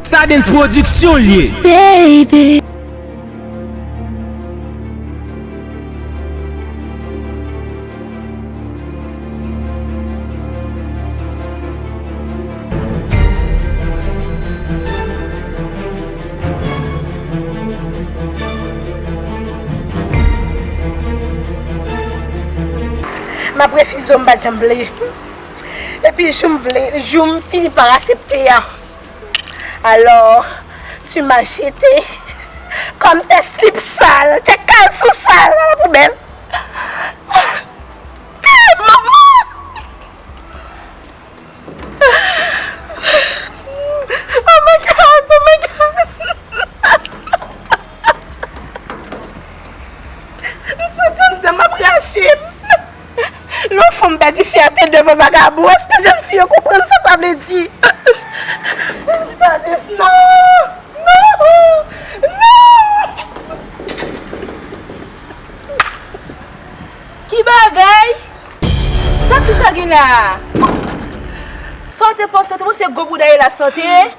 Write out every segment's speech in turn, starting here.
Stardens production l ye. Baby. Map refize w m pa janm vle. Epi jou m vle, jou m fini pa asepte a, alò tu m'as jete kòm tè slip sal, tè kalson sal nan la poubèl. Tè manman! Oh my God! Oh my God! M santi anndan m ap rache m. Lè yon fanm pèdi fyète devan vagabon, èske jèn fi yo konprann sa sa vle di? Sadis, Non! Non! Non! Ki bagay? Sa ki sa gen la a? Sa w te panse? W te panse gwo bouda Elas lan te?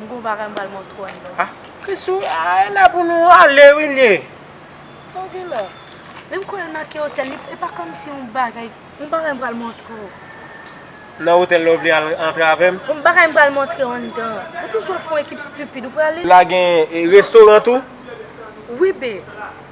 M gen yon bagay m pral montre w anndan. Ah Christoo ah e la pou nou ale wi liye. Sa w gen la? Men m kwè l manke otèl li e pa kòmsi yon bagay yon bagay m pral montre w. Nan otèl la ou vle al antre avè m? Yon bagay m pral montre w anndan. Ou toujou ap fè yon ekip stupid ou prale? La gen restoran tou? Wi bee.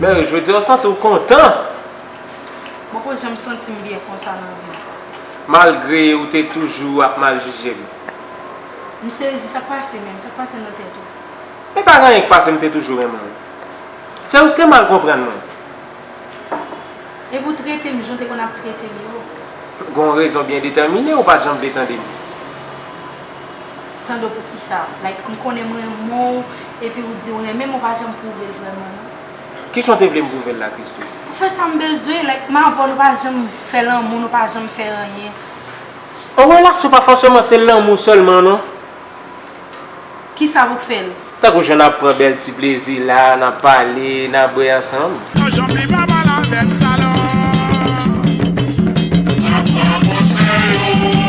Mary, jodi a ou santi ou kontan? Poko janm santi m byen konsa nan vi m. Malgre ou te toujou ap mal jije m. M sezi, sa k pase menm? Sa k pase nan tèt ou? E pa gen anyen k pase m te toujou renmen w. Se ou k te mal konprann mwen. Epi ou trete m jan w te konn ap trete m yo. Gen yon rezon byen detèmine ou pa janm vle tande m. Tande w poukisa? Like m konnen m renmen w epi ou di w renmen m ou pa janm pwouve l vrèman non. Ki jan w te vle m pwouve l la Christoo? Pou fè sa m bezwen, like m avè w nou pa janm fè lanmou, nou pa janm fè anyen. An relasyon pa fòseman se lanmou sèlman non. Kisa pou k fè l? Tankou jan n ap pran bèl ti plezi la, n ap pale, n ap bwè ansanm. Nan janm li pa bal avè m sa lò. Nan bra kose yo.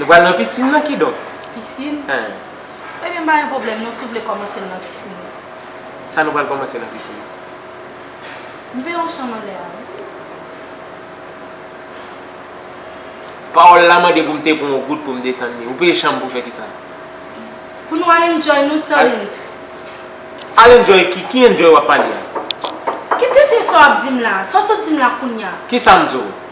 Nou pral nan piscine nan kidonk. Piscine? Eh. Ebyen m pa gen pwoblèm non si w vle kòmanse l nan piscine. Sa nou pral kòmanse nan piscine? M vle yon chanm anlè a wi. Pawòl la mande pou m te pran yon goud pou m desann li. Ou peye chanm pou fè kisa? Pou nou al enjoy nou Sterlens. Al enjoy ki? Ki enjoy w ap pale a? Ki tenten sa w ap di m la? Sa w sot di m la kounya? Kisa m di w?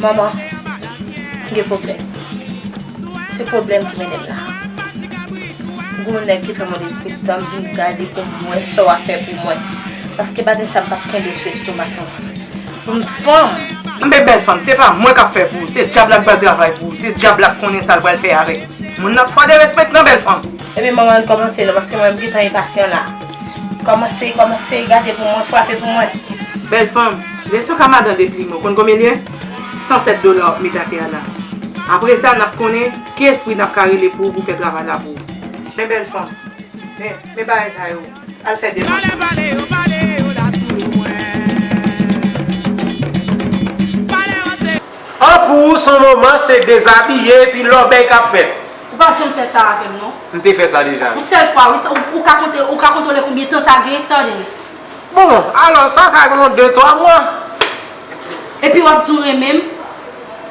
Manman gen pwoblèm. Se pwoblèm ki mennen l la. Gwo nèg ki fè mwen despi tan m vin gade pou m wè sa w a fè pou mwen. Paske bagay sa m p ap kenbe sou estomak mwen. Pou m fanm. Anben bèl fanm, se pa mwen k ap fè pou ou. Se dyab la k pral travay pou ou. Se dyab la k konnen sa l pral fè avèk moun nan. Fwa derespektan bèl fanm. Ebyen manman an n kòmanse non paske mwen m gen tan enpasyan la. Kòmanse kòmanse gate pou mwen frape pou mwen. Bèl fanm, lè son ka madan de plim ou konn konbyen l ye? 107 dola wap met atè a la. Apre sa nap konnen ki espri nap ka rele pou ou pou fè travay la pou ou. Men bèl fanm, men men bagay sa yo, al fè demann ou. An pou ou son moman se dezabiye epi lòbèy kap fèt. Ou pa janm fè sa avèm non. M te fè sa deja wi. Yon sèl fwa wi, ou ka konte, ou ka kontwole konbyen tan sa gen Stardens? Bon, alò sa ka gen yon de twa mwa. Epi wap di w renmen m?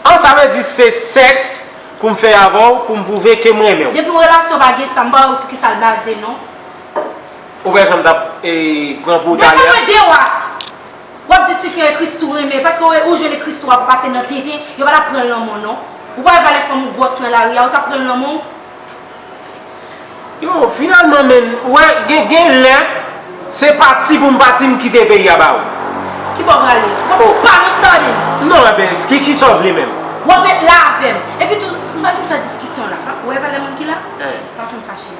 An sa vle di se sèks pou m fè avè w pou m pwouve ke m renmen w? Depi relasyon pa gen sa, m pa wè sou kisa l baze non. Ou wè jan m tap pran pou w talè a? Devan mwen dewat! Wap di tifi an e christoo renmen paske w e ou jwenn e christoo ap pase nan tenten yo pa tap pranl lanmò non ou pa wè valè fanm ou gwòs nan lari a ou tap pranl lanmò ou. Yo finalman menn wè gen gen lè se pati pou m pati m kite peyi a ba ou. Ki bò w prale? Wap fout pa nou stardens. Non enben ki kisa w vle menm? Wap ret la avèm. Epitou nou pa vin fè diskisyon la. Ou wè valè moun ki la? Pa fin fache.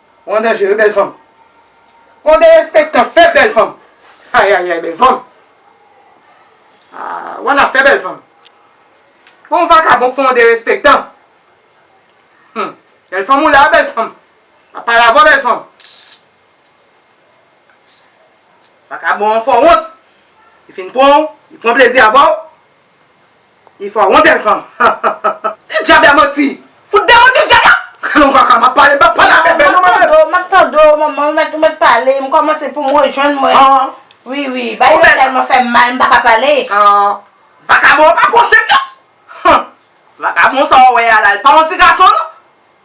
Ou an danje wi bèl fanm. Ou derespektan fèb bèl fanm. Ayayay bèl fanm. Ou an afè bèl fanm. Ou an vakabon fè yon derespektan. Hum bèl fanm ou la bèl fanm. Wap pale avè w bèl fanm. Vakabon an fè w wont. Li fin pran w, li pran plezi avè w. Ifa ou yon bèl fanm hahaha. Se djab la manti. Fout de manti djab la. Kalon kaka map pale mpa pale avè bèl non mwen menm. Map tande w manman ou mèt pale m kòmanse poum rejwenn mwen wi wi bay yo tèlman fèm mal m paka pale. Vakabon an pa pwosèt non. Vakabon sa ou wè a la li pa yon ti gason non.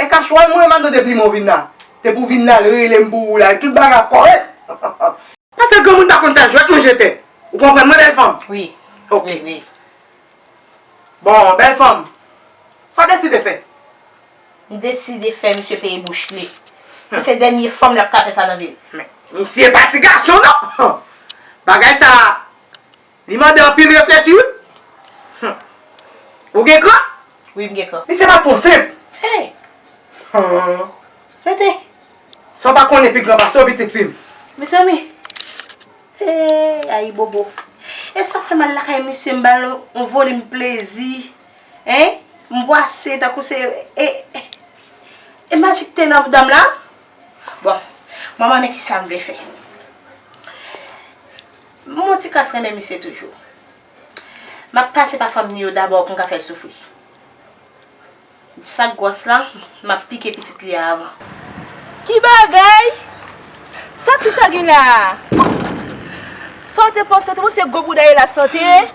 E kachwal mwen mande depi men w vin la te pou vin la rele m pou ou la e tout bagay ap kòrèk. Pase granmoun pa konn fè jwèt manje tè ou konprann mwen bèl fanm? Wi. Ok. Bon bèl fanm sa w deside fè? M deside fè misye peye bouch li. Pou se dènye fanm l ap ka fè sa nan vi l. Men misye pa ti gason non! Bagay sa Li mande anpil reflechi wi. Humm. Ou gen kran? Wi m gen kran. Misye pa pwan senp. Hey! Humm. Rete. Sa w pa konnen pi gran pase w pitit fi m. Mezanmi! Hey! Ayibobo. E sa k fè m al lakay misye m ba l yon volim plezi. Hein! M bwase tankou se e e majik te nan bouda m la? Bon. M ap man men kisa m vle fè. M on ti kras renmen misye toujou. M ap pase pa fanmi yo dabò pou m ka fè l soufri. Sa k gwòs la, m ap pike pitit li a avan. Ki bagay! Sa fi sa gen la a? Sa w te panse? W te panse gwo bouda Elas lan te ye?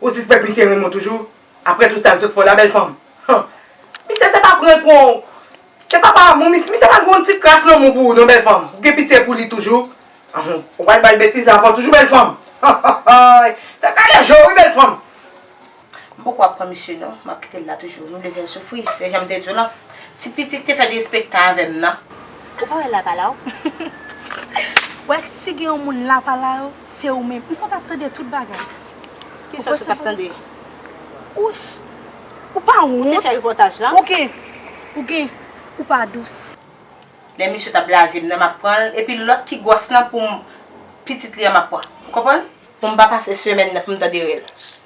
Ou sispèk misye renmen w toujou aprè tout sa l sot fè w la bèl fanm? Han! Misye se pa pran l pran w. Se pa pa amou misye. Misye pa gen yon ti kras lanmou pou ou non bèl fanm. Ou gen pitye pou li toujou? Anhn! Ou pa al ba l betiz ankò toujou bèl fanm? Anhayy! Se kale je w wi bèl fanm. M poko ap pran misye non. M ap kite l la toujou. M vle fè l soufri. Se jan m te di w lan. Ti pitit te fè derespektan avè m nan. Ou pa wè l la pa la w? Ou wè si gen yon moun la pa la w? Se ou menm. M santi w tap tande tout bagay. Ki sòs ou tap tande? Ouch! Ou pa wont? Ou te fè repòtaj lan? Ou gen. Ou gen. Ou pa dous. Lè misye tap blaze m nan map pran l epi lòt ki gwòs lan pou m pitit li an map pran. Ou konprann? Pou m pa pase semèn nan pou m tande rèl.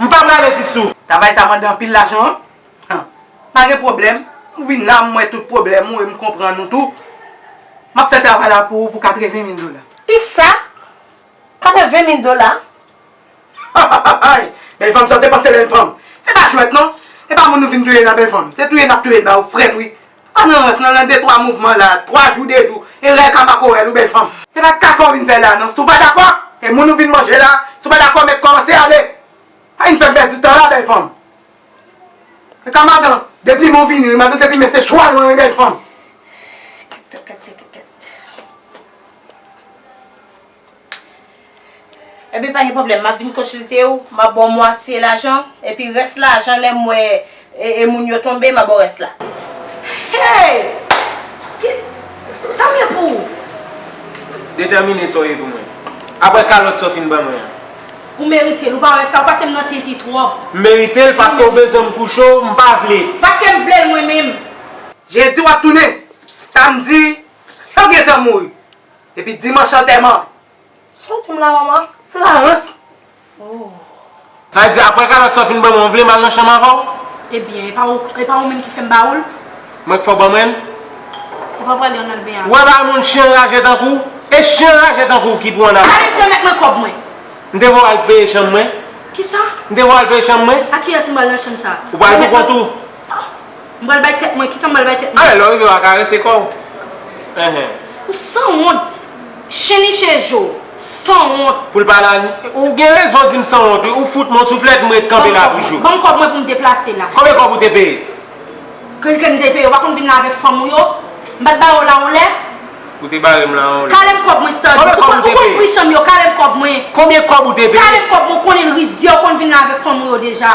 M pa prale Christoo. Travay sa mande anpil lajan wi. Hum pa gen pwoblèm ou vin la m wè tout pwoblèm ou e m konprann ou tou. M ap fè travay la pou ou pou 80 mil dola. Kisa? 80 mil dola? Hahahahay bèl fanm sa ou te panse bèl fanm. Se pa jwèt non. E pa moun nou vin touye la bèl fanm. Se touye n ap touye l ba ou frèt wi. Pa nan rans nan nan de twa mouvman la twa jou de jou e rèl ka pako rèl ou bèl fanm. Se pa kaka w vin fè la non. Si w pa dakò, e moun ou vin manje la, si w pa dakò mèt kòmanse ale. Pa vin fè m pèdi tan la bèl fanm. E ka madan, deplimen w vini wi madan deplimen se chwa lwen wi bèl fanm. Kèt kèt kèt kèt kèt kèt. Ebyen pa gen pwoblèm map vin konsilte ou, map ba w mwatye lajan, epi rès lajan lè m wè e moun yo tonbe map ba w rès la. Hey! Ki sa m gen pou ou? Detèmine sa w ye pou mwen. Aprè kalòt sa w fin ban mwen an. Ou merite l, ou pa wè sa, ou pase m nan tinti twòp. M merite l paske w bezwen m kouche w, m pa vle. Paske m vle l mwen menm. Jedi w ap tounen, samdi, yo gentan mouri. Epi dimanch antèman. Saw dim la manman? Se pa rans? Ooh. Sa vle di aprè kalòt sa w fin ban mwen ou vle m al nan chanm avè w? Ebyen epa ou epa ou menm ki fèm ba ou l? Mwen k fè w ban mwen l? Ou pa pwale ann ben avè l? Wè bagay moun chyen raje tankou w? E chyen raje tankou w ki pou ann avè l? Arete remèt mwen kòb mwen. M te vle w al peye chanm mwen. Kisa? M te vle w al peye chanm mwen. A kiyès m pral nan chanm sa? Ou pral pou kont ou. Ah! M pral bay tèt mwen, kisa m pral bay tèt mwen? Alè lè w rive wa karese kò w. Enhen. Ou sanwont! Chen niche je w! Sanwont! Pou l pa la ni. Ou gen rezon di m sanwont wi, ou fout m on souflèt m ret kanpe la toujou. Ban m kòb mwen pou m deplase la. Konbyen kòb ou te peye? Kèm te peye, ou pa konn vin la avèk fanm ou yo? M pa t bare w la on lè? Ou te bare m la on lè. Kale m kòb mwen Stardens. Ou konn pri chanm yo, kale m kòb mwen. Konbyen kòb ou te peye? Kale m kòb mwen, ou konnen rizyè, ou konn vin la avèk fanm ou yo deja.